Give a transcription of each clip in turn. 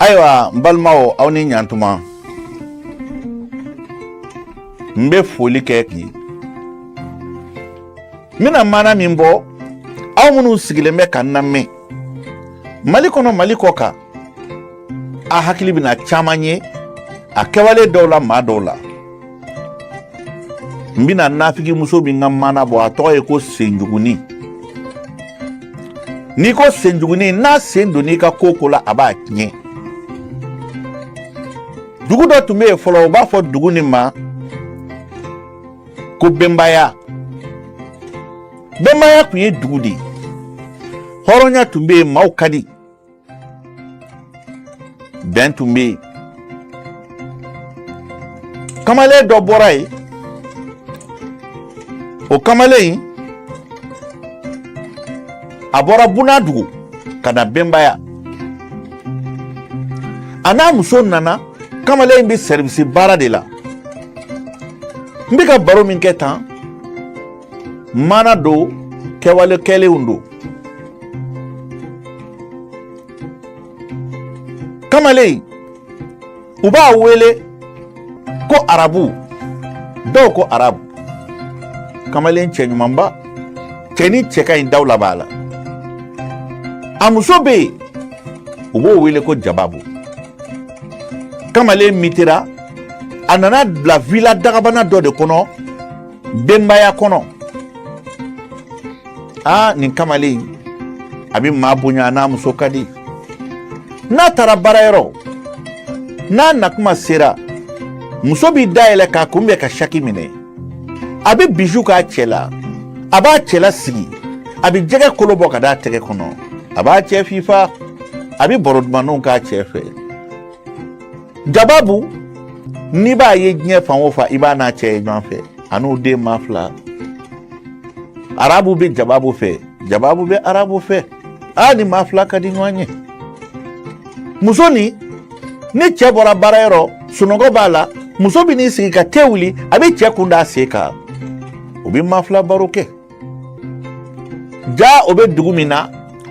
ayiwa n balimaw aw ni ɲantuma n bɛ foli kɛ k'i n bɛna maana min bɔ aw minnu sigilen bɛ ka n lamɛn mali kɔnɔ mali kɔkan a hakili bɛna caman ye a kɛwale dɔw la maa dɔw la n bɛna nafigimuso min ka maana bɔ a tɔgɔ ye ko senjuguni n'i ko senjuguni n'a sen donn'i ka ko o ko la a b'a tiɲɛ dugu dɔ tun bɛ yen fɔlɔ u b'a fɔ dugu nin ma ko bɛnbaya bɛnbaya tun ye dugu de ye hɔrɔnya tun bɛ yen maaw ka di bɛn tun bɛ yen kamalen dɔ bɔra yen o kamalen in a bɔra bunadugu ka na bɛnbaya a n'a muso nana kamalen in bɛ sɛribisi baara de la n bɛ ka baro min kɛ tan maana don kɛwale kɛlenw don kamalen u b'a wele ko arabu dɔw ko arabu kamalen cɛɲumanba cɛnin cɛ ka ɲi dawula b'a la a muso bɛ yen u b'o wele ko jababu kamalen mitera a nana bila vila dagabana dɔ de kɔnɔ bɛnbaya kɔnɔ aa nin kamalen a bɛ maa bonya n'a muso ka di n'a taara baarayɔrɔ n'a nakuma sera muso bɛ da yɛlɛ k'a kunbɛn ka saki minɛ a bɛ biju k'a cɛ la a b'a cɛ lasigi a bɛ jɛgɛ kolo bɔ k'a d'a tɛgɛ kɔnɔ a b'a cɛ fifa a bɛ baro dumanninw k'a cɛ fɛ jababu n'i b'a ye diɲɛ fan o fan i b'a n'a cɛ ye ɲɔgɔn fɛ a n'u den maa fila arabu bɛ jababu fɛ jababu bɛ arabu fɛ aa nin maa fila ka di ɲɔgɔn ye muso nin ni cɛ bɔra baarayɔrɔ sunɔgɔ b'a la muso bɛ n'i sigi ka te wuli a bɛ cɛ kun d'a sen kan u bɛ maa fila baro kɛ jaa u bɛ dugu min na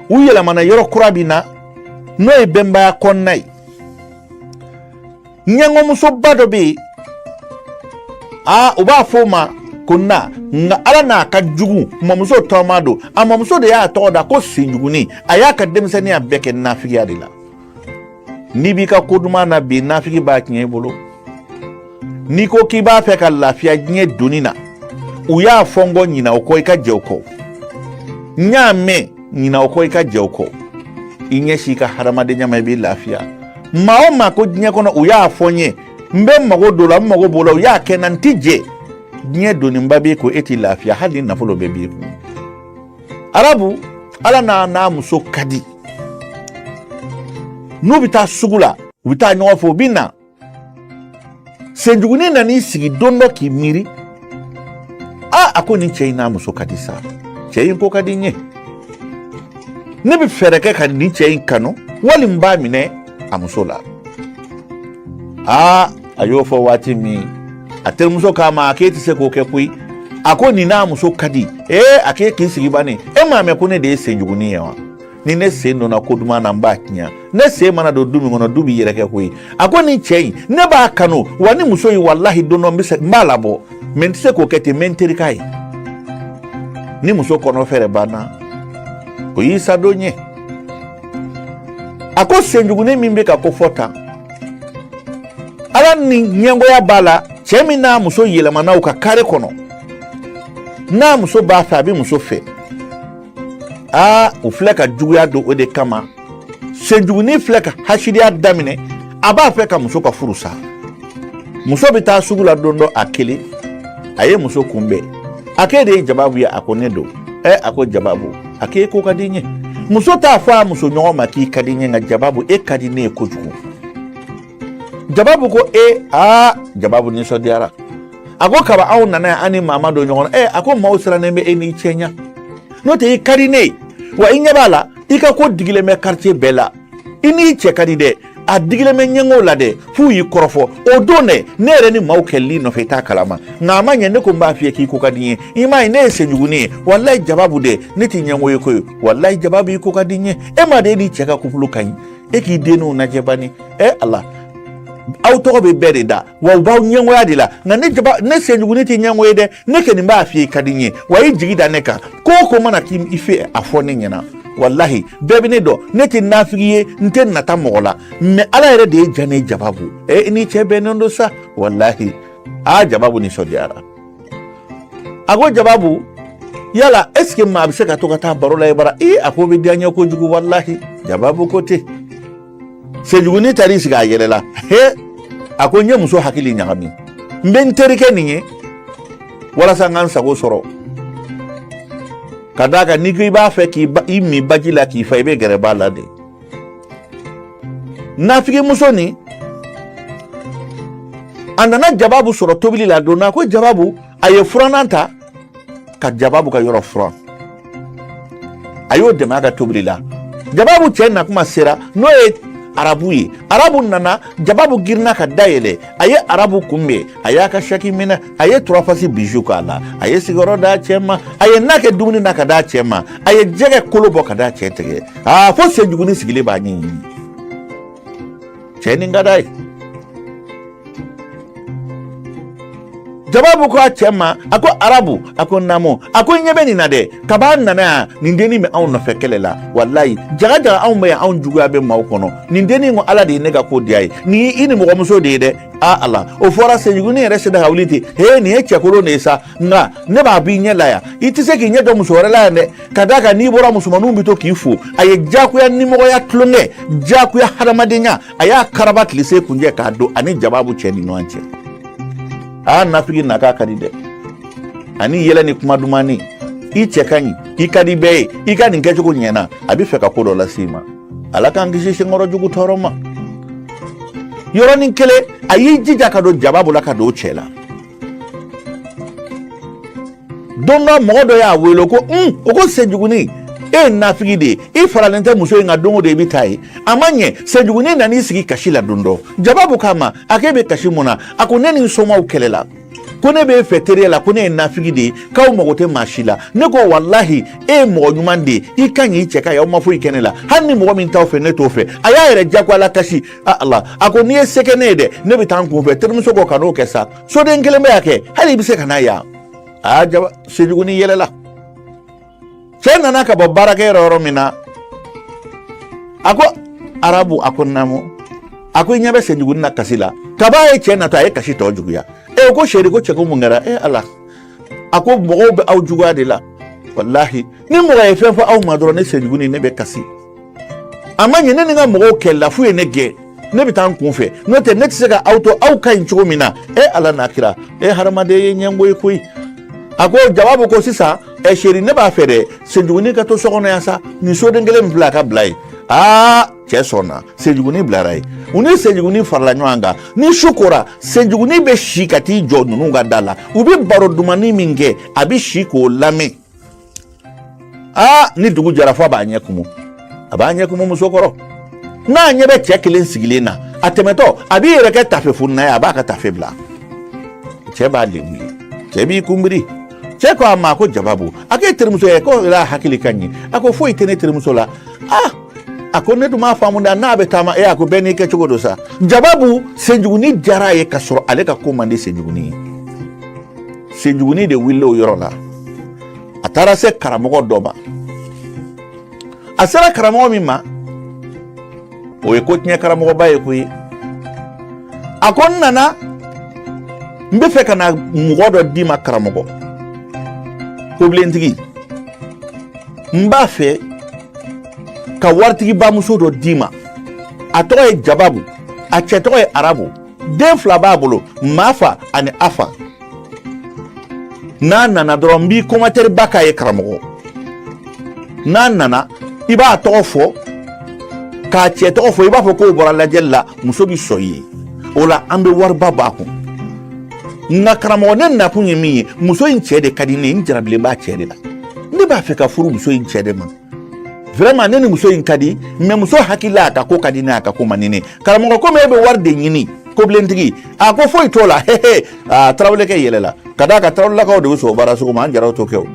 u yɛlɛmana yɔrɔ kura min na n'o ye bɛnbaya kɔnɔna ye ɲɛngɔmusoba dɔ bɛ yen aa u b'a fɔ o ma ko na nka ala na ka jugu mamuso tɔma don a mamuso de y'a tɔgɔ da ko senjugunin a y'a ka denmisɛnninya bɛɛ kɛ nafigiya de la n'i b'i ka ko duman na bi nafigi b'a tiɲɛ i bolo n'i ko k'i b'a fɛ ka lafiya diɲɛ doni na u y'a fɔ n kɔ ɲina o kɔ i ka jɛ o kɔ n y'a mɛn ɲina o kɔ i ka jɛ o kɔ i ɲɛsin i ka hadamadenya ma i b'i lafiya maa o maa ko diɲɛ kɔnɔ u y'a fɔ n ye n bɛ mago don la n mago b'o la u y'a kɛ n na n ti jɛ diɲɛ doniba b'i kɔ e t'i lafiya hali ni nafolo bɛɛ b'i kun arabu ala n'a n'a muso ka di n'u bɛ taa sugu la u bɛ taa ɲɔgɔn fɛ u bɛ na senjugunin nan'i sigi don dɔ k'i miiri a a ko nin cɛ in n'a muso ka di sa cɛ in ko ka di n ye ne bɛ fɛɛrɛ kɛ ka nin cɛ in kanu wali n b'a minɛ a muso la aa a y'o fɔ waati min a terimuso k'a ma a k'e tɛ se k'o kɛ koyi a ko nin n'a muso ka di ee a k'e k'i sigi bani e m'a mɛn ko ne de ye senjugunin ye wa ni ne sen donna ko duman na n b'a tiɲɛ ne sen mana don du min kɔnɔ du bɛ yɛrɛkɛ koyi a ko nin cɛ in ne b'a kanu wa nin muso in walahi don dɔ n b'a labɔ mais n tɛ se k'o kɛ ten n bɛ n teri k'a ye ni muso kɔnɔ fɛɛrɛ banna o y'i sadon ye a ko senjugunin min bɛ ka ko fɔ tan ala ni ɲɛngoya b'a la cɛ min n'a muso yɛlɛmana u ka kare kɔnɔ n'a muso b'a fɛ a bɛ muso fɛ aa u filɛ ka juguya don o de kama senjugunin filɛ ka hasidiya daminɛ a b'a fɛ ka muso ka furu sa muso bɛ taa sugu la don dɔ a kelen a ye muso kunbɛn a k'e de ye jababu ye a ko ne don ɛ a ko jababu a k'e ko ka di n ye muso t'a fɔ a muso ɲɔgɔn ma k'i ka di n ye nka jababu e ka di ne ye kojugu jababu ko e aa jababu nisɔndiyara a ko kaba aw nana yan an ni maa ma don ɲɔgɔn na ɛ a ko maaw sirannen bɛ e n'i cɛ ɲa n'o tɛ i ka di ne ye wa i ɲɛ b'a la i ka ko digilen bɛ quartier bɛɛ la i n'i cɛ ka di dɛ a digilen bɛ ɲɛngow la dɛ f'u y'i kɔrɔfɔ o don dɛ ne yɛrɛ ni maaw kɛlɛl'i nɔfɛ i t'a kalama nka a ma ɲɛ ne ko n b'a f'i ye k'i ko ka di n ye i m'a ye ne ye senjugunin ye walayi jababu dɛ ne t'i ɲɛngo ye koyi walayi jababu i ko ka di n ye e ma de e n'i cɛ ka couple ka ɲi e k'i denninw najɛ bani ɛ ala aw tɔgɔ bɛ bɛɛ de da wa u b'aw ɲɛngoya de la nka ne jaba ne senjugunin tɛ ɲɛngo ye dɛ ne kɔni b'a f'i ye ka di n ye wa i jigi da ne kan ko o ko mana k'i fɛ a fɔ ne ɲɛna walahi bɛɛ bɛ ne dɔn ne tɛ nafigi ye n tɛ nata mɔgɔ la mais ala yɛrɛ de y'i diya n ye jababu ɛ i n'i cɛ bɛnnen don sa walahi aa jababu nisɔndiyara a ko jababu yala est ce que maa bɛ se ka to ka taa baro la e bara ee a k'o bɛ diya n ye kojugu walahi jababu ko ten senjuguni taar'i sigi a yɛlɛla he a ko n ye muso hakili ɲagami n bɛ n terikɛ nin ye walasa n ka n sago sɔrɔ ka d'a kan n'i ko i b'a fɛ k'i min baji la k'i fa i bɛ gɛrɛ ba la de nafigimuso nin a nana jababu sɔrɔ tobili la donna ko jababu a ye furanan ta ka jababu ka yɔrɔ furan a y'o dɛmɛ a ka tobili la jababu cɛ na kuma sera n'o ye arabu ye arabu nana jababu girinna ka da yɛlɛ a ye arabu kunbɛn a y'a ka saki minɛ a ye turafasi biju k'a la a ye sigiyɔrɔ d'a cɛ ma a ye na kɛ dumuni na ka d'a cɛ ma a ye jɛgɛ kolo bɔ ka d'a cɛ tɛgɛ aa fo senjuguni sigilen b'a ɲɛɲini cɛ nin ka d'a ye jababu ko a cɛ ma a ko arabu a ko naamu a ko ɲɛ bɛ nin na dɛ kab'a nana yan nin dennin bɛ anw nɔfɛ kɛlɛ la walayi jaga jaga anw bɛ yan anw juguya bɛ maaw kɔnɔ nin dennin ko ala de ye ne ka ko diya ye nin ye i nimɔgɔmuso de ye dɛ a ala o fɔra senjuguni yɛrɛ sera ka wuli ten he nin ye cɛkolon de ye sa nka ne b'a b'i ɲɛ la yan i tɛ se k'i ɲɛ jɔ muso wɛrɛ la yan dɛ ka d'a kan n'i bɔra musomaninw bɛ to k'i fo a ye jagoya nimɔgɔya tulonkɛ jagoya hadamadenya a y'a karaba tile se kuncɛ k'a don a ni jababu cɛ ni ɲɔgɔn cɛ aa nafigi na k'a ka di dɛ ani yɛlɛ ni kuma dumanni i cɛ ka ɲi i ka di bɛɛ ye i ka nin kɛcogo ɲɛna a bɛ fɛ ka ko dɔ lase i ma ala k'an kisi senkɔrɔ jugu tɔɔrɔ ma yɔrɔnin kelen a y'i jija ka don jababu la ka don cɛ la don dɔ mɔgɔ dɔ y'a wele ko un o ko senjuguni e ye nafigi de ye i faralen tɛ muso in ka don o don i bɛ taa yen a ma ɲɛ senjuguni nan'i sigi kasi la don dɔ jababu k'a ma a k'e bɛ kasi mun na a ko ne ni n somaw kɛlɛla ko ne b'e fɛ teriya la ko ne ye nafigi de ye k'aw mago tɛ maa si la ne ko walahi e ye mɔgɔ ɲuman de ye i ka ɲi i cɛ ka ɲi aw ma foyi kɛ ne la hali ni mɔgɔ min t'aw fɛ ne t'o fɛ a y'a yɛrɛ jagoya lakasi ala a ko n'i ye se kɛ ne ye dɛ ne bɛ taa n kun fɛ terimuso ko kan'o kɛ sa soden kelen bɛ yan kɛ hali i bɛ se ka na yan aa jaba senjuguni yɛlɛla cɛ nana ka bɔ baarakɛyɔrɔ yɔrɔ min na a ko arabu a ko naamu a ko i ɲɛ bɛ senjuguni na kasi la kab'a ye cɛ natɔ a ye kasi tɔ juguya e ko seri ko cɛ ko mun kɛra e ala a ko mɔgɔw bɛ aw juguya de la walahi ni mɔgɔ ye fɛn fɔ aw ma dɔrɔn ne senjuguni ne bɛ kasi a ma ɲɛ ne ni n ka mɔgɔw kɛlɛla f'u ye ne gɛn ne bɛ taa n kun fɛ n'o tɛ ne tɛ se ka aw to aw ka ɲi cogo min na e ala n'a kira e hadamaden ye ɲɛngo ye koyi a ko jababu ko sisan ɛ seri ne b'a fɛ dɛ senjuguni ka to so kɔnɔ yan sa nin soden kelen min filɛ a ka bila yen aa cɛ sɔnna senjuguni bilara yen u ni senjuguni farala ɲɔgɔn kan ni su kora senjuguni bɛ si ka t'i jɔ ninnu ka da la u bɛ baro dumanni min kɛ a bɛ si k'o lamɛn aa ni dugu jɛra fo a b'a ɲɛ kumu a b'a ɲɛ kumu muso kɔrɔ n'a ɲɛ bɛ cɛ kelen sigilen na a tɛmɛtɔ a b'i yɛrɛ kɛ tafe fonina ye a b'a ka tafe bila cɛ b'a lebu ye cɛ b'i kunbiri cɛ ko a ma ko jababu a k'e terimuso ye ko yala hakili ka ɲi a ko foyi tɛ ne terimuso la ah a ko ne dun m'a faamu da n'a bɛ taama e a ko bɛɛ n'i kɛ cogo don sa jababu senjuguni diyara a ye ka sɔrɔ ale ka ko man di senjuguni ye senjuguni de wulila o yɔrɔ la a taara se karamɔgɔ dɔ ma a sera karamɔgɔ min ma o ye ko tiɲɛ karamɔgɔba ye koyi a ko n nana n bɛ fɛ ka na mɔgɔ dɔ d'i ma karamɔgɔ kobilentigi n b'a fɛ ka waritigiba muso dɔ d'i ma a tɔgɔ ye jababu a cɛ tɔgɔ ye arabu den fila b'a bolo mafa ani afa n'a nana dɔrɔn n b'i commentaire ba k'a ye karamɔgɔ n'a nana i b'a tɔgɔ fɔ k'a cɛ tɔgɔ fɔ i b'a fɔ k'o bɔra lajɛli la muso bɛ sɔn i ye o la an bɛ wariba b'a kun nka karamɔgɔ ne nakun ye min ye muso in cɛ de ka di ne ye n jarabilen b'a cɛ de la ne b'a fɛ ka furu muso in cɛ de ma vraiment ne ni muso in ka di mais muso hakili la a ka ko ka di n ye a ka ko man di n ye karamɔgɔ komi e bɛ wari de ɲini kobilentigi a ko foyi t'o la hehe aa tarawelekɛ yɛlɛla ka d'a kan tarawelelakaw de bɛ sɔn o baara sugu ma an jaraw t'o kɛ o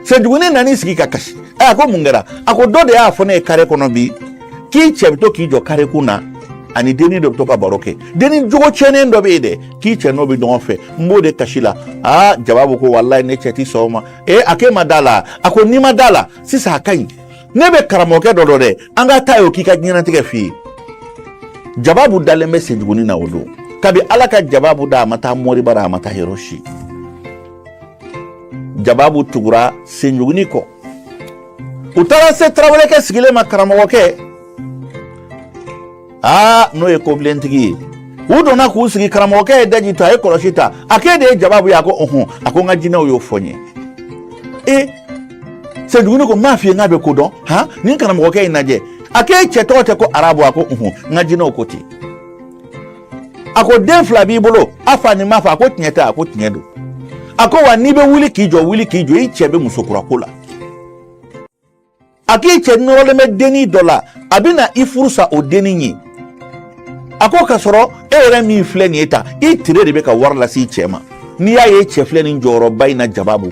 senjuguni nan'i sigi ka kasi a ko mun kɛra a ko dɔ de y'a fɔ ne ye kare kɔnɔ bi k'i cɛ bɛ to k'i jɔ kare kun na ani denni dɔ bɛ to ka baro kɛ denni jogo tiɲɛnen dɔ bɛ yen dɛ k'i cɛ n'o bɛ ɲɔgɔn fɛ n b'o de kasi la aa jababu ko walayi ne cɛ ti sɔn o ma ee a k'e ma da la a ko n'i ma da la sisan a ka ɲi ne bɛ karamɔgɔkɛ dɔ dɔn dɛ an ka taa y'o k'i ka diɲɛnatigɛ f'i ye jababu dalen bɛ senjuguni na o don kabi ala ka jababu da a ma taa mori bara a ma taa yɔrɔ si jababu tugura senjuguni kɔ u taara se tarawelekɛ sigilen ma karamɔgɔkɛ aa n'o ye kobilentigi ye u donna k'u sigi karamɔgɔkɛ ye daji tu a ye kɔlɔsi ta a k'e de ye jababu ye a ko ɔhɔn a ko n ka jinɛw y'o fɔ n ye e senjuguni ko n m'a f'i ye n k'a bɛ ko dɔn han nin karamɔgɔkɛ in lajɛ a k'e cɛ tɔgɔ tɛ ko arabu a ko ɔhɔn n ka jinɛw ko ten a ko den fila b'i bolo afa ni mafa a ko tiɲɛ tɛ a ko tiɲɛ don a ko wa n'i bɛ wuli k'i jɔ wuli k'i jɔ i cɛ bɛ muso kura ko la a k'i cɛ nɔrɔlen bɛ denni dɔ la a bɛ na i furu sa o denni ye a ko ka sɔrɔ e yɛrɛ min filɛ nin ye ta i tere de bɛ ka wari lase i cɛ ma n'i y'a ye cɛ filɛ nin jɔyɔrɔba in na jababu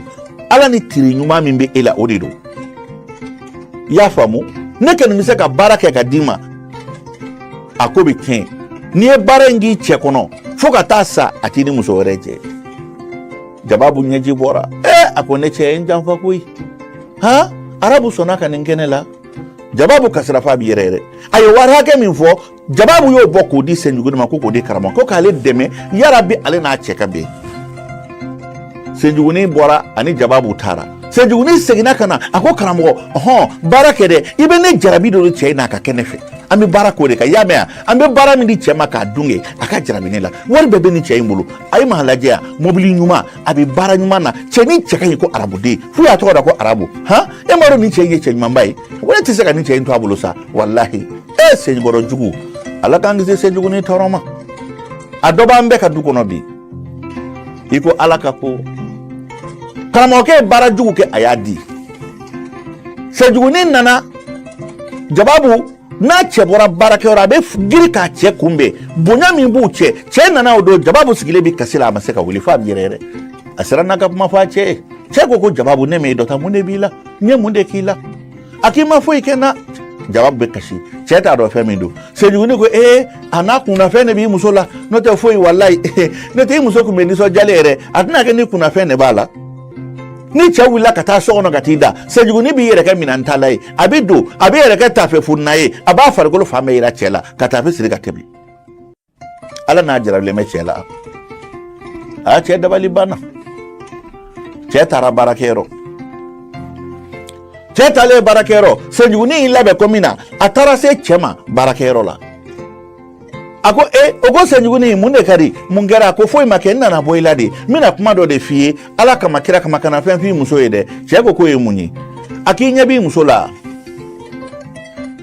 ala ni tere ɲuman min bɛ e la o de don i y'a faamu ne kɔni bɛ se ka baara kɛ ka d'i ma a ko bɛ tiɲɛ n'i ye baara in k'i cɛ kɔnɔ fo ka taa sa a t'i ni muso wɛrɛ jɛ jababu ɲɛji bɔra ee a ko ne cɛ ye n janfa koyi han arabu sɔnna ka nin kɛ ne la jababu kasira f'a bi yɛrɛyɛrɛ a ye wari hakɛ min fɔ jababu y'o bɔ k'o di senjuguni ma ko k'o di karamɔgɔ ko k'ale dɛmɛ yarabi ale n'a cɛ ka bɛn senjuguni bɔra ani jababu taara senjuguni seginna ka na a ko karamɔgɔ hɔn baara kɛ dɛ i bɛ ne jarabi don de cɛ in na a ka kɛ ne fɛ an bɛ baara k'o de kan i y'a mɛn yan an bɛ baara min di cɛ ma k'a dun kɛ a ka jarabi ne la wari bɛɛ bɛ nin cɛ in bolo a ye maa lajɛ yan mobili ɲuman a bɛ baara ɲuman na cɛni cɛ ka ɲi ko arabuden f'u y'a tɔgɔ da ko arabu han e m'a dɔn nin cɛ in ye cɛ ɲumanba ye wa ne tɛ se ka nin cɛ in to a bolo sa walahi e senkɔrɔ jugu ala k'an kisi senjuguni tɔɔrɔ ma a dɔ b'an bɛɛ ka du kɔnɔ bi i ko ala ka ko karamɔgɔkɛ ye baara jugu kɛ a y'a di senjuguni nana jababu n'a cɛ bɔra baarakɛyɔrɔ a bɛ girin k'a cɛ kunbɛn bonya min b'u cɛ cɛ nana o don jababu sigilen bɛ kasi la a ma se ka wuli f'a bɛ yɛrɛyɛrɛ a siranna ka kuma fɔ a cɛ ye cɛ ko ko jababu ne m'e dɔn tan mun de b'i la n ye mun de k'i la a k'i ma foyi kɛ n na jababu bɛ kasi cɛ t'a dɔn fɛn min don senjuguni ko ee a n'a kunnafɛn de b'i muso la n'o tɛ foyi walayi n'o tɛ i muso tun bɛ nisɔndiyalen yɛrɛ a tɛna kɛ ni kunnafɛn de b'a la ni cɛ wulila ka taa so kɔnɔ ka t'i da senjuguni b'i yɛrɛ kɛ minɛn tala ye a bɛ don a b'i yɛrɛ kɛ tafe funna ye a b'a farikolo fan bɛɛ yira cɛ la ka tafe siri ka tɛmɛ ala n'a jarabilen bɛ cɛ la a cɛ dabali banna cɛ taara baarakɛyɔrɔ cɛ taalen baarakɛyɔrɔ senjuguni y'i labɛn ko min na a taara se cɛ ma baarakɛyɔrɔ la a ko e o ko senjuguni mun de ka di mun kɛra a ko foyi ma kɛ n nana bɔ i la de n bɛna kuma dɔ de f'i ye ala kama kira kama kana fɛn f'i muso ye dɛ cɛɛ ko k'o ye mun ye a k'i ɲɛ b'i muso la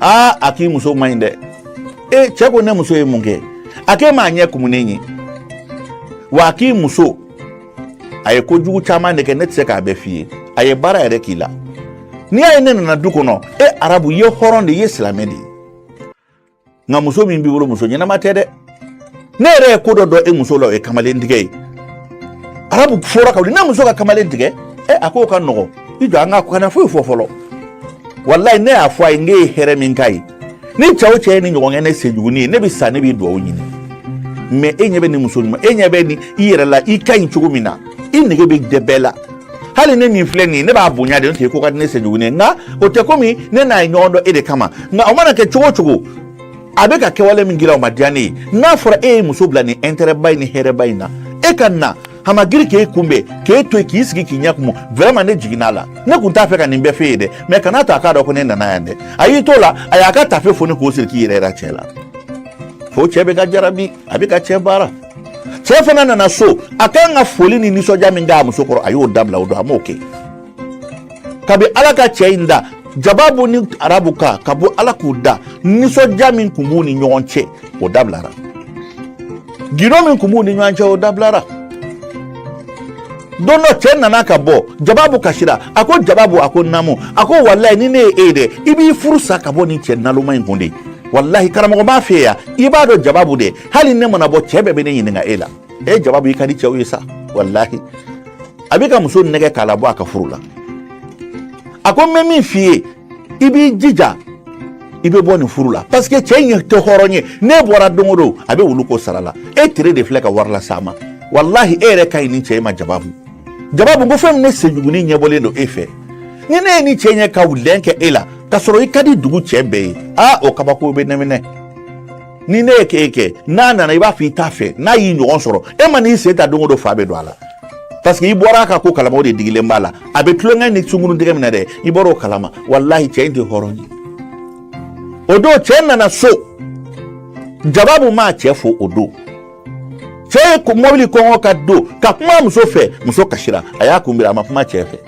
aa a k'i muso man ɲi dɛ e cɛɛ ko ne muso ye mun kɛ a k'e m'a ɲɛ kumunen ye wa a k'i muso a ye kojugu caman de kɛ ne tɛ se k'a bɛɛ f'i ye a ye baara yɛrɛ k'i la n'i y'a ye ne nana du kɔnɔ e arabu i ye hɔrɔn de i ye silamɛ de ye nka muso min b'i bolo muso ɲɛnama tɛ dɛ ne yɛrɛ ye ko dɔ dɔn e muso la o ye kamalen tigɛ ye arabu fora ka wuli ne muso ka kamalen tigɛ ɛ a k'o ka nɔgɔ i jɔ an ka kana foyi fɔ fɔlɔ walayi ne y'a fɔ a ye n k'e ye hɛrɛ min k'a ye ni cɛ o cɛ ye ni ɲɔgɔn kɛ ne senjuguni ye ne bɛ sa ne b'i dugawu ɲini mais e ɲɛ bɛ nin muso ɲuman e ɲɛ bɛ nin i yɛrɛ la i ka ɲi cogo min na i nege bɛ dɛ bɛɛ la hali ne min filɛ nin ye ne b'a bonya de n'o tɛ ko ka di ne senjuguni ye nka o tɛ komi ne n'a ye ɲɔgɔn dɔn e de kama nka o mana kɛ cogo o cogo a bɛ ka kɛwale min kɛra o ma diya ne ye n'a fɔra e ye muso bila nin intérêt ba in ni hɛrɛba in na e ka na a ma giri k'e kunbɛn k'e to yen k'i sigi k'i ɲɛ kumu vraiment ne jiginna a la ne kun t'a fɛ ka nin bɛɛ f'e ye dɛ mais kana to a k'a dɔn ko ne nana yan dɛ a y'i t'o la a y'a ka tafe foni k'o siri k'i yɛrɛ yira cɛ la fo cɛ bɛ ka jarabi a bɛ ka cɛ baara cɛ fana nana so a kan ka foli ni nisɔndiya min k'a muso kɔrɔ a y'o dabila o don a m'o kɛ kabi ala ka cɛ in da jababu ni arabu ka ka bɔ ala k'u da nisɔndiya min tun b'u ni ɲɔgɔn cɛ o dabilara gindo min tun b'u ni ɲɔgɔn cɛ o dabilara don dɔ cɛ nana ka bɔ jababu kasira a ko jababu a ko naamu a ko walayi ni ne ye e ye dɛ i b'i furu sa ka bɔ nin cɛ naloma in kun de walahi karamɔgɔ b'a fɛ yan i b'a dɔn jababu dɛ hali ne mana bɔ cɛ bɛɛ bɛ ne ɲininka e la e jababu i ka di cɛw ye sa walahi a bɛ ka muso nɛgɛ k'a labɔ a ka furu la a ko n bɛ min f'i ye i b'i jija i bɛ bɔ nin furu la parce que cɛ in tɛ hɔrɔn ye n'e bɔra don o don a bɛ wulu ko sara la e tere de filɛ ka wari las'a ma walahi e yɛrɛ ka ɲi ni cɛ in ma jababu jababu ko fɛn min ne senjuguni ɲɛbɔlen don e fɛ ni ne ye ni cɛ ɲɛ ka wulɛn kɛ e la ka sɔrɔ i ka di dugu cɛ bɛɛ ye aa o kabako bɛ ne minɛ ni ne ye k'e kɛ n'a nana i b'a fɔ i t'a fɛ n'a y'i ɲɔgɔn sɔrɔ e man'i sen ta don o don fa bɛ don a la parce que i bɔra a ka ko kalama o de digilen b'a la a bɛ tulonkɛ ni sunguruntigɛ minɛ dɛ i bɔra o kalama walahi cɛ in tɛ hɔrɔn ye o don cɛ nana so jababu m'a cɛ fo o don cɛ ye mɔbili kɔngɔ ka don ka kuma muso fɛ muso kasira a y'a kunbiri a ma kuma cɛ fɛ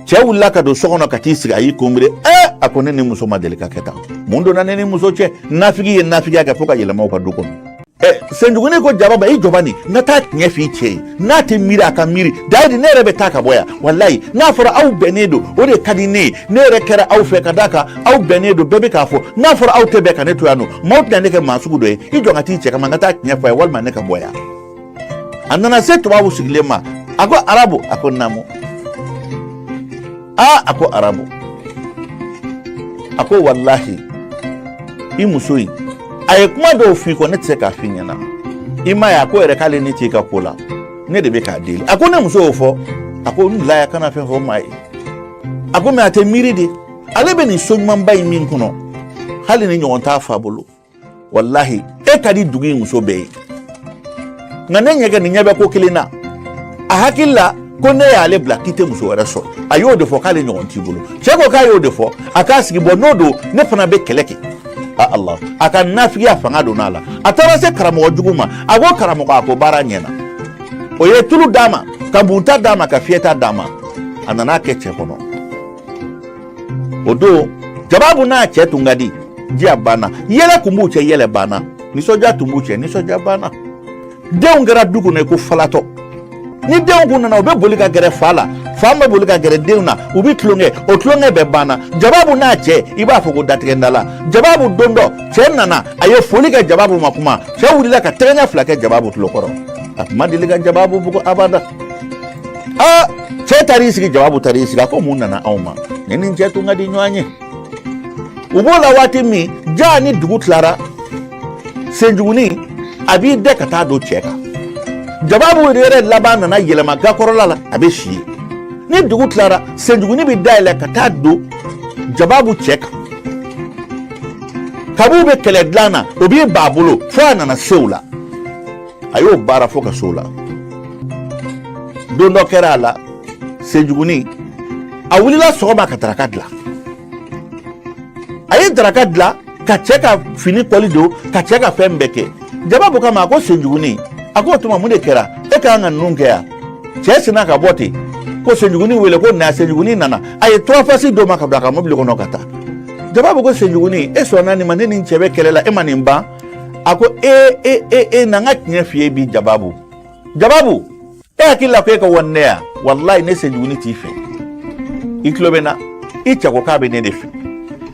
cɛ wulila ka don so kɔnɔ ka t'i sigi a y'i kunbiri ɛ a ko ne ni muso ma deli ka kɛ tan mun donna ne ni muso cɛ nafigi ye nafigiya kɛ fo ka yɛlɛma u ka du kɔnɔ ɛ senjuguni ko jababu i jɔ bani n ka taa tiɲɛ f'i cɛ ye n'a tɛ miiri a ka miiri dayidi ne yɛrɛ bɛ taa ka bɔ yan walayi n'a fɔra aw bɛnnen don o de ka di ne ye ne yɛrɛ kɛra aw fɛ ka d'a kan aw bɛnnen don bɛɛ bɛ k'a fɔ n'a fɔra aw tɛ bɛn ka ne to yan nɔ maaw tɛna ne kɛ maa sugu dɔ ye i jɔ ka t'i cɛ kama n ka taa tiɲɛ fɔ a ye walima ne ka bɔ yan a nana se tubabu sigilen ma a ko arabu a ko naamu aa a ko arabu a ko walahi i muso in a ye kuma dɔw f'i kɔ ne tɛ se k'a f'i ɲɛna i m'a ye a ko yɛrɛ k'ale ne t'i ka ko la ne de bɛ k'a deli a ko ne muso y'o fɔ a ko n bila ya kana fɛn fɔ maa ye a ko mais a tɛ miiri de ale bɛ nin so ɲumanba in min kɔnɔ hali ni ɲɔgɔn t'a fa bolo walahi e ka di dugu in muso bɛɛ ye nka ne ɲɛ kɛ nin ɲɛ bɛ ko kelen na a hakili la ko n'e y'ale bila k'i tɛ muso wɛrɛ sɔrɔ a y'o de fɔ k'ale ɲɔgɔn t'i bolo cɛ ko k'a y'o de fɔ a k'a sigi bɔ n'o don ne fana bɛ kɛlɛ kɛ a ala a ka nafigiya fanga donna a la a taara se karamɔgɔ jugu ma a ko karamɔgɔ a ko baara ɲɛna o ye tulu d'a ma ka bunta d'a ma ka fiyɛta d'a ma a nana a kɛ cɛ kɔnɔ o don jababu n'a cɛ tun ka di diya banna yɛlɛ kun b'u cɛ yɛlɛ banna nisɔndiya tun b'u cɛ nisɔndiya banna denw kɛra du kɔnɔ ko falatɔ ni denw kun nana u bɛ boli ka gɛrɛ fa la fa bɛ boli ka gɛrɛ denw na u bɛ tulonkɛ o tulonkɛ bɛɛ banna jababu n'a cɛ i b'a fɔ ko datigɛnda la jababu don dɔ cɛ nana a ye foli kɛ jababu ma kuma cɛ wulila ka tɛgɛɲɛ fila kɛ jababu tulo kɔrɔ a tun ma deli ka jababu bugɔ abada aa cɛ taara i sigi jababu taara i sigi a ko mun nana anw ma ne ni n cɛ tun ka di ɲɔgɔn ye u b'o la waati min jaa ni dugu tilara senjugunin a b'i dɛ ka taa don cɛ kan jababu yɛrɛ laban nana yɛlɛma gakɔrɔla la a bɛ si yen ni dugu tilara senjugunin bɛ da yɛlɛ ka taa don jababu cɛ kan kab'u bɛ kɛlɛ dilan na o b'i ba bolo fo a nana se u la a y'o baara fo ka se o la don dɔ kɛra a la senjuguni a wulila sɔgɔma ka daraka dilan a ye daraka dilan ka cɛ ka fini kɔli don ka cɛ ka fɛn bɛɛ kɛ jababu kama a ko senjuguni a ko o tuma mun de kɛra e ka kan ka ninnu kɛ yan cɛ sinna ka bɔ ten ko senjuguni wele ko na senjuguni nana a ye tɔrɔfasi d'o ma ka bila a ka mobili kɔnɔ ka taa jababu ko senjuguni e sɔnna nin ma ne ni n cɛ bɛ kɛlɛ la e ma nin ban a ko e e e e na n ka tiɲɛ f'i ye bi jababu jababu e hakili la ko e ka wari ne yan walayi ne senjuguni t'i fɛ i tulo bɛ n na i cɛ ko k'a bɛ ne de fɛ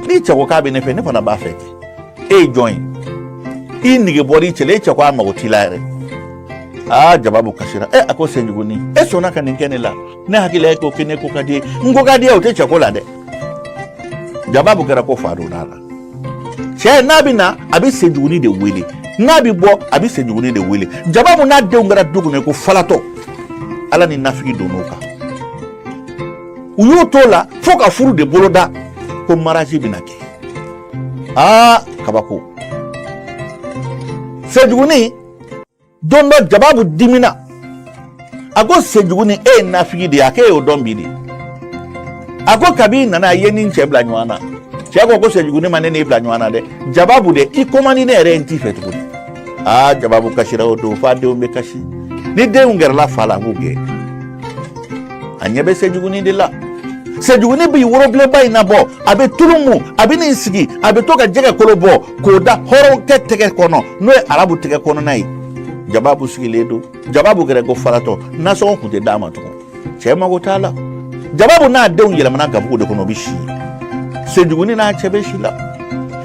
n'i cɛ ko k'a bɛ ne fɛ ne fana b'a fɛ ten e ye jɔn ye i nege bɔra i cɛ la e cɛ ko a mago t'i la yɛrɛ aa jababu kasira e a ko senjuguni e sɔnna ka nin kɛ ne la ne hakili la e ko kɛ ne ko ka d'i ye n ko ka d'i ye o tɛ cɛ ko la dɛ jababu kɛra ko fa donna a la cɛ n'a bɛ na a bɛ senjuguni de wele n'a bɛ bɔ a bɛ senjuguni de wele jababu n'a denw kɛra du kɔnɔ ko falatɔ ala ni nafigi donn'o kan u y'o t'o la fo ka furu de boloda ko mariage bɛna kɛ aa kabako senjuguni don dɔ jababu dimina a ko senjuguni e ye nafigi de ye a k'e y'o dɔn bi de a ko kabi i nana a ye ni cɛ bila ɲɔgɔn na cɛ ko ko senjuguni ma ne n'e bila ɲɔgɔn na dɛ jababu de i ko man di ne yɛrɛ ye n t'i fɛ tuguni aa jababu kasira o don f'a denw bɛ kasi ni denw gɛrɛla fa la a b'u gɛn a ɲɛ bɛ senjuguni de la senjuguni b'i worobilenba in nabɔ a bɛ tulu mu a bɛ n'i sigi a bɛ to ka jɛgɛ kolo bɔ k'o da hɔrɔnkɛ tɛgɛ kɔnɔ n'o ye arabu tɛgɛ kɔnɔna ye jababu sigilen don jababu kɛra ko faratɔ nasɔngɔ tun tɛ d'a ma tugun cɛ mago t'a la jababu n'a denw yɛlɛmana gabugu de kɔnɔ o bɛ si senjuguni n'a cɛ bɛ si la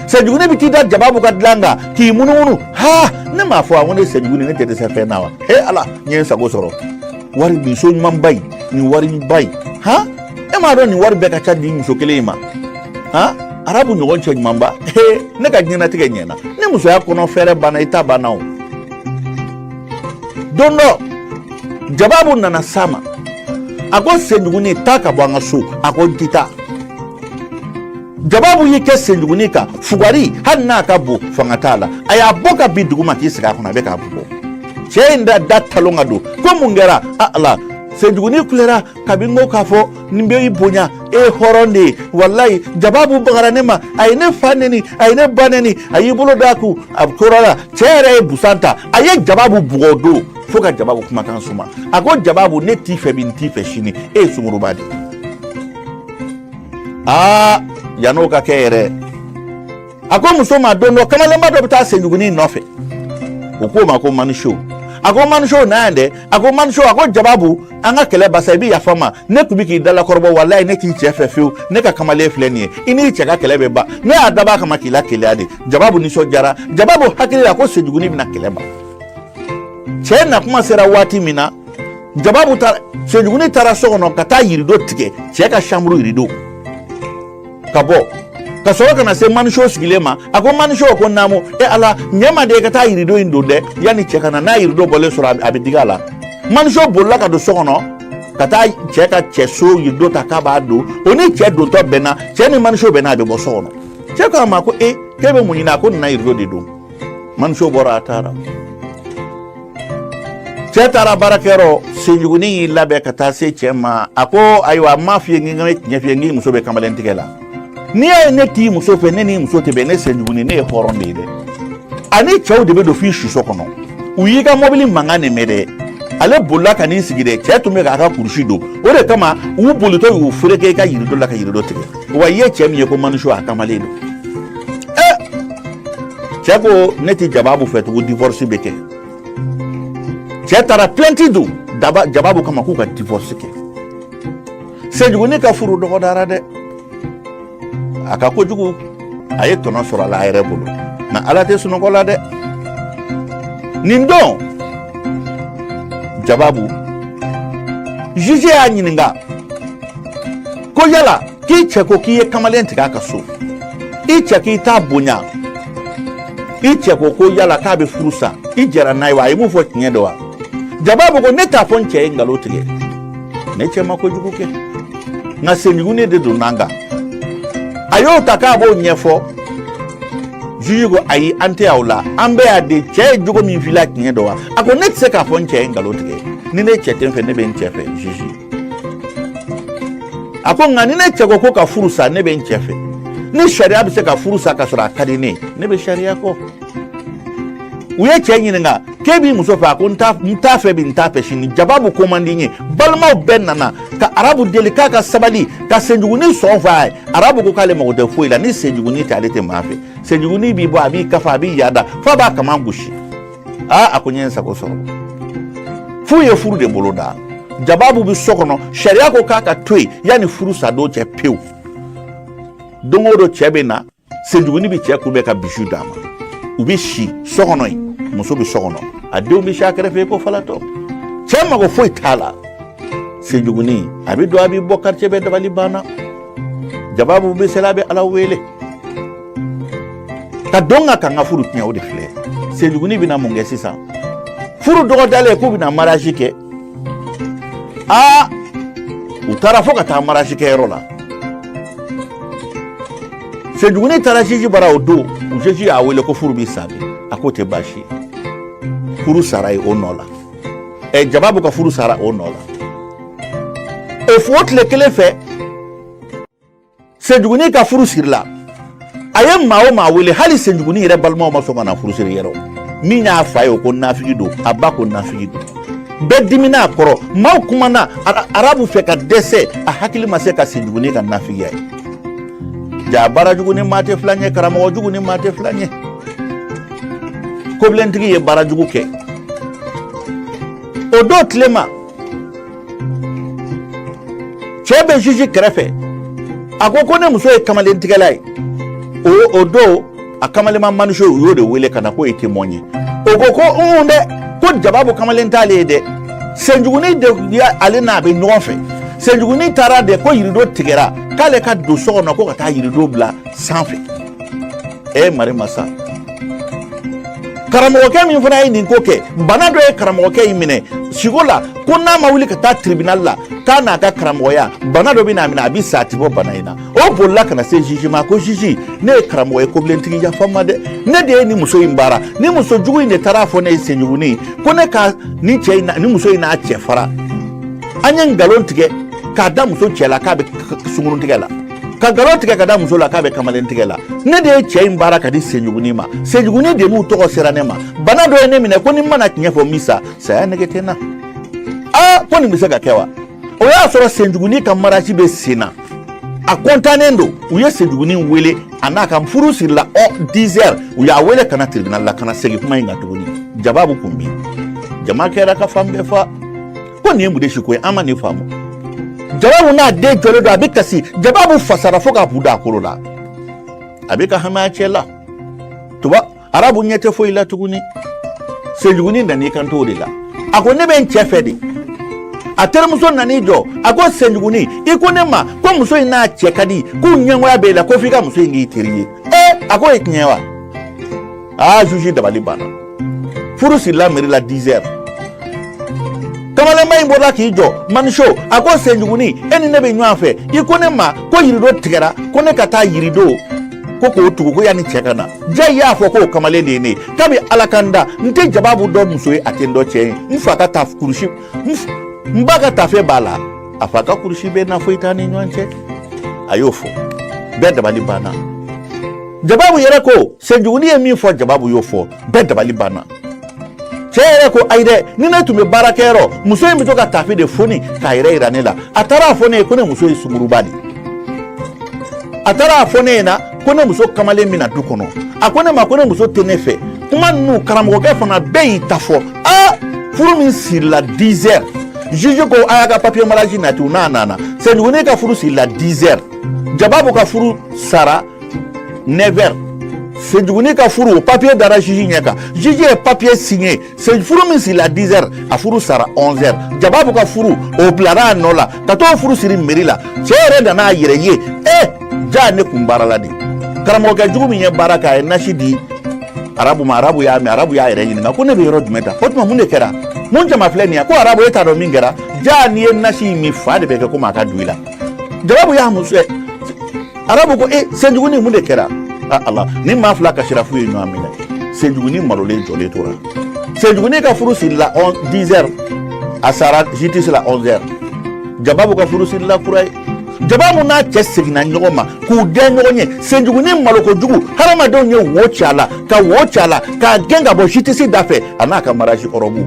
senjuguni bɛ t'i da jababu ka dilan kan k'i munumunu ha ne m'a fɔ a ko ne senjuguni ne tɛ dɛsɛ fɛn na wa he ala n ye n sago sɔrɔ wari nin so ɲumanba in nin wari ba in han e m'a dɔn nin wari bɛɛ ka ca di muso kelen in ma arabu ɲɔgɔn cɛ ɲumanba ne ka diɲɛnatigɛ ɲɛna ni musoya kɔnɔ fɛɛrɛ banna i ta banna o don dɔ jababu nana s'a ma a ko senjuguni taa ka bɔ an ka so a ko n ti taa jababu y'i kɛ senjuguni kan fugari hali n'a ka bon fanga t'a la a y'a bɔ ka bin duguma k'i sigi a kɔnɔ a bɛ k'a bugɔ cɛ ye da da talon ka don ko mun kɛra a ala senjuguni kulera kabini n ko k'a fɔ n bɛ i bonya e ye hɔrɔn de ye walayi jababu bagara ne ma a ye ne fa neni a ye ne ba neni a y'i bolo d'a kun a tora la cɛ yɛrɛ ye busan ta a ye jababu bugɔ don fo ka jababu kumakan suma a ko jababu ne t'i fɛ bi n t'i fɛ sini e ye sungurunba de ye aa yann'o ka kɛ yɛrɛ a ko muso ma don dɔ kamalenba dɔ bɛ taa senjugunin in nɔfɛ o k'o ma ko maniso a ko maniso na yan dɛ a ko maniso a ko jababu an ka kɛlɛ basa i bɛ yafa n ma ne tun bɛ k'i dalakɔrɔbɔ walayi ne t'i cɛ fɛ fiyewu ne ka kamalen filɛ nin ye i n'i cɛ ka kɛlɛ bɛ ban ne y'a dabɔ a kama k'i lakeleya de jababu nisɔndiyara jababu hakili la ko senjugunin bɛna kɛlɛ ban cɛ na kuma sera waati min na jababu taara senjugunin taara so kɔnɔ ka taa yirido tigɛ cɛ ka chambre yirido ka bɔ ka sɔrɔ ka na se maniso sigilen ma a ko maniso ko naamu e ala ɲɛ n ma dɛ ka taa yirido in don dɛ yanni cɛ ka na n'a yirido bɔlen sɔrɔ a bɛ digi a la maniso bolila ka don so kɔnɔ ka taa cɛ ka cɛ so yirido ta k'a b'a don o ni cɛ dontɔ bɛnna cɛ ni maniso bɛnna a bɛ bɔ so kɔnɔ cɛ ko a ma ko e k'e bɛ mun ɲini a ko n nana yirido de don maniso bɔra a taara cɛ taara baarakɛyɔrɔ senjugunin y'i labɛn ka taa se cɛ ma a ko ayiwa n m'a f'i ye n ka tiɲɛ f'i ye n k'i muso bɛ kamalen tigɛ la n'i y'a ye ne t'i muso fɛ ne n'i muso tɛ bɛn ne senjugunin ne ye hɔrɔn de ye dɛ ani cɛw de bɛ don f'i suso kɔnɔ u y'i ka mɔbili mankan de mɛn dɛ ale bolila ka n'i sigi dɛ cɛ tun bɛ k'a ka kurusi don o de kama u bolitɔ y'u fereke i ka yirido la ka yirido tigɛ wa i ye cɛ min ye ko maniso a kamalen don eh! cɛ ko ne tɛ jababu fɛ tugu divorce bɛ kɛ cɛ taara plainte don jababu kama k'u ka divorce kɛ senjugunin ka furu dɔgɔdara dɛ a ka kojugu a ye tɔnɔ sɔrɔ a la a yɛrɛ bolo nka ala tɛ sunɔgɔ la dɛ nin don jababu juge y'a ɲininka ko yala k'i cɛ ko k'i ye kamalen tigɛ a ka so i cɛ k'i t'a bonya i cɛ ko ko yala k'a bɛ furu sa i jɛra n'a ye wa a ye mun fɔ tiɲɛ don wa jababu ko ne t'a fɔ n cɛ ye nkalon tigɛ ne cɛ ma kojugu kɛ nka senjugunin de donn'an kan a y'o ta k'a b'o ɲɛfɔ juge ko ayi an tɛ aw la an bɛ yan de cɛ ye jogo min f'i la tiɲɛ don wa a ko ne tɛ se k'a fɔ n cɛ ye nkalon tigɛ ni ne cɛ tɛ n fɛ ne bɛ n cɛ fɛ juge a ko nka ni ne cɛ ko ka furu sa ne bɛ n cɛ fɛ ni sariya bɛ se ka furu sa ka sɔrɔ a ka di ne ne bɛ sariya kɔ u ye cɛ ɲininka k'e b'i muso fɛ a ko n t'a fɛ bi n t'a fɛ sini jababu ko man di n ye balimaw bɛɛ nana ka arabu deli k'a ka sabali ka senjugunin sɔn fɔ a ye arabu ko k'ale mago tɛ foyi la ni senjugunin tɛ ale tɛ maa fɛ senjugunin b'i bɔ a b'i kafa a b'i yaada f'a b'a kaman gosi aa a ko n ye n sago sɔrɔ f'u ye furu de bolo da jababu bɛ so kɔnɔ sariya ko k'a ka to yen yanni furu sadon cɛ pewu don o don cɛ bɛ na senjuguni bɛ cɛ kunbɛn ka bisou d'a ma u bɛ si so kɔnɔ yen muso bɛ so kɔnɔ a denw bɛ si a kɛrɛfɛ ko falatɔ cɛ mago foyi t'a la senjuguni a bɛ don a bɛ bɔ quartier bɛɛ dabali banna jababu bɛ seli la a bɛ ala wele ka don ka kan ka furu tiɲɛ o de filɛ senjuguni bɛna mun kɛ sisan furu dɔgɔdalen k'u bɛna mariage kɛ aa u taara fo ka taa mariage kɛyɔrɔ la senjuguni taara juge bara o don juge y'a wele ko furu bɛ sa bi a k'o tɛ baasi furu sara yen o nɔ la ɛ eh, jababu ka furu sara o nɔ la o fo tile kelen fɛ senjugunin ka furu sirila a ye maa o maa wele hali senjugunin yɛrɛ balimaw ma sɔn ka na furu siri yɛrɛ min y'a fa ye o ko nafigi don a ba ko nafigi don bɛɛ dimina a kɔrɔ maaw kumana arabu fɛ ka dɛsɛ a hakili ma se ka senjugunin ka nafigiya ye jaa baara jugu ni maa tɛ fila ɲɛ karamɔgɔ jugu ni maa tɛ fila ɲɛ kobilentigi ye baara jugu kɛ o don tilema cɛ bɛ juge kɛrɛfɛ a ko ko ne muso ye kamalentigɛla ye o o don a kamalenma maniso u y'o de wele ka na k'o ye témoin ye o ko ko un dɛ ko jababu kamalen t'ale ye dɛ senjuguni de ale n'a bɛ ɲɔgɔn fɛ senjuguni taara de ko yirido tigɛra k'ale ka don so kɔnɔ ko ka taa yirido bila sanfɛ e mari masa karamɔgɔkɛ min fana ye nin ko kɛ bana dɔ ye karamɔgɔkɛ in minɛ siko la ko n'a ma wuli ka taa tribunal la k'a n'a ka karamɔgɔya bana dɔ bɛn'a minɛ a bɛ sa a tɛ bɔ bana in na o bolila ka na se juge ma ko juge ne ye karamɔgɔ ye kobilentigi yafa n ma dɛ ne de ye nin muso in baara nin muso jugu in de taara a fɔ ne ye senjugunin ko ne ka nin cɛ in nin muso in n'a cɛ fara an ye nkalon tigɛ k'a da muso cɛ la k'a bɛ sunguruntigɛ la ka nkalon tigɛ k'a da muso la k'a bɛ kamalen tigɛ la ne de ye cɛ in baara k'a di senjugunin ma senjugunin de b'u tɔgɔ sera ne ma bana dɔ ye ne minɛ ko ni n ma na tiɲɛ fɔ n bɛ sa saya nege tɛ n na aa ko nin bɛ se ka kɛ wa o y'a sɔrɔ senjugunin ka mariage bɛ sen na a kɔntannen don u ye senjugunin wele a n'a ka furu sirila ɔ dizɛri u y'a wele ka na tiribinali la ka na segin kuma in kan tuguni jababu kun bi jama kɛra ka fan bɛɛ fa ko nin ye mun de si ko ye an ma nin faamu jababu n'a den jɔlen don a bɛ kasi jababu fasara fo k'a bu da a kolo la a bɛ ka hami a cɛ la tuba arabu ɲɛ tɛ foyi la tuguni senjuguni nan'i kan t'o de la a ko ne bɛ n cɛ fɛ de a terimuso nan'i jɔ a ko senjuguni i ko ne ma ko muso in n'a cɛ ka di k'u ɲɛngoya b'e la ko f'i ka muso in k'i teri ye ee a k'o ye tiɲɛ wa aa juge dabali banna furu sirila meri la dizɛri kamalenba in bɔra k'i jɔ maniso a ko senjuguni e ni ne bɛ ɲɔgɔn fɛ i ko ne ma ko yirido tigɛra ko ne ka taa yirido ko k'o tugu ko yanni cɛ ka na jaa i y'a fɔ k'o kamalen de ye ne ye kabi ala ka n da n tɛ jababu dɔn muso ye a tɛ n dɔn cɛ ye n fa ka ta kurusi n ba ka tafe b'a la a fa ka kurusi bɛ n na foyi t'an ni ɲɔgɔn cɛ a y'o fɔ bɛɛ dabali banna jababu yɛrɛ ko senjuguni ye min fɔ jababu y'o fɔ bɛɛ dabali banna cɛ yɛrɛ ko ayi dɛ ni ne tun bɛ baarakɛyɔrɔ muso in bɛ to ka tafe de foni k'a yɛrɛ yira ne la a taara a fɔ ne ye ko ne muso ye sungurunba de a taara a fɔ ne ɲɛna ko ne muso kamalen bɛ na du kɔnɔ a ko ne ma ko ne muso tɛ ne fɛ kuma ninnu karamɔgɔkɛ fana bɛɛ y'i ta fɔ aa furu min sirila 10 heures juge ko a y'a ka papier mariage nati u n'a nana senjuguni ka furu sirila 10 heures jababu ka furu sara 9 heures senjuguni ka furu o papiye dara jiji ɲɛ kan jiji ye papiye siɲe furu min sirila 10 heures a furu sara 11 heures jababu ka furu o bilara a nɔ la ka t'o furu siri meri la cɛ yɛrɛ nan'a yɛrɛ ye e ja ne kun baarala de karamɔgɔkɛ jugu min ye baara kɛ a ye nasi di arabu ma arabu y'a min arabu y'a yɛrɛ ɲininka ko ne bɛ yɔrɔ jumɛn tan o tuma mun de kɛra mun jama filɛ nin ye ko arabu e t'a dɔn min kɛra ja n'i ye nasi in min fa de bɛ kɛ komi a ka du i la jababu y'a muso arabu ko e senjuguni mun de kɛra ala ni maa fila kasira f'u ye ɲɔgɔn minɛ senjuguni malolen jɔlen tora senjuguni ka furu sirila 10 heures a sara jitisi la 11 heures jababu ka furu sirila kura ye jababu n'a cɛ seginna ɲɔgɔn ma k'u dɛn ɲɔgɔn ye senjuguni malokojugu hadamadenw ye wo ci a la ka wo ci a la k'a gɛn ka bɔ jitisi da fɛ a n'a ka maraji ɔrɔbu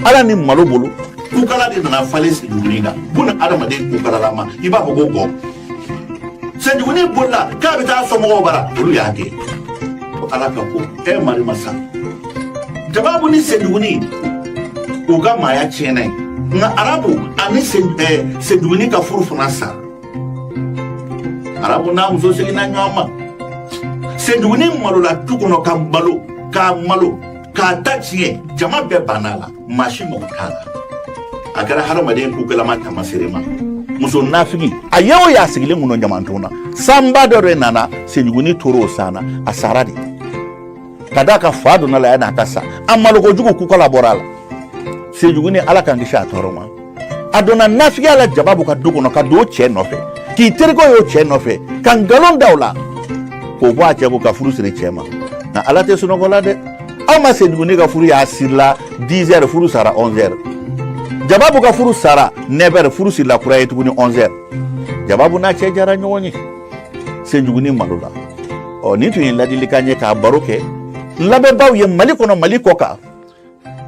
ala ni malo bolo kukala de nana falen senjuguni na buna adamaden kukalalama i b'a fɔ ko gɔn senjuguni bolila k'a bɛ taa somɔgɔw bara olu y'a kɛ ko ala ka ko e mari masa jababu ni senjuguni u ka maaya tiɲɛna yen ka arabu ani senjuguni ka furu fana sa arabu n'a muso seginna ɲɔgɔn ma senjuguni malola du kɔnɔ ka balo k'a malo k'a ta tiɲɛ jama bɛɛ banna a la maa si mago t'a la a kɛra hadamaden kukalama tamaserema muso nafigiya ye o y'a sigilen kun don ɲamanton na sanba dɔ de nana senjuguni tora o san na a sara de ka d'a kan fa donn'a la yann'a ka sa a malokojugu kukala bɔra a la senjuguni ala k'an kisi a tɔɔrɔ ma a donna nafigiya la jababu ka du kɔnɔ ka don o cɛ nɔfɛ k'i terikɛ y'o cɛ nɔfɛ ka nkalon da o la k'o bɔ a cɛ kun ka furu siri cɛ ma nka ala tɛ sunɔgɔ la dɛ aw ma senjuguni ka furu y'a sirila 10 heures furu sara 11 heures jababu ka furu sara 9 heures furu sirila kura ye tuguni 11 heures jababu n'a cɛ jara ɲɔgɔn ye senjuguni malola ɔ nin tun ye ladilikan ye k'a baro kɛ n lamɛnbaaw ye mali kɔnɔ mali kɔkan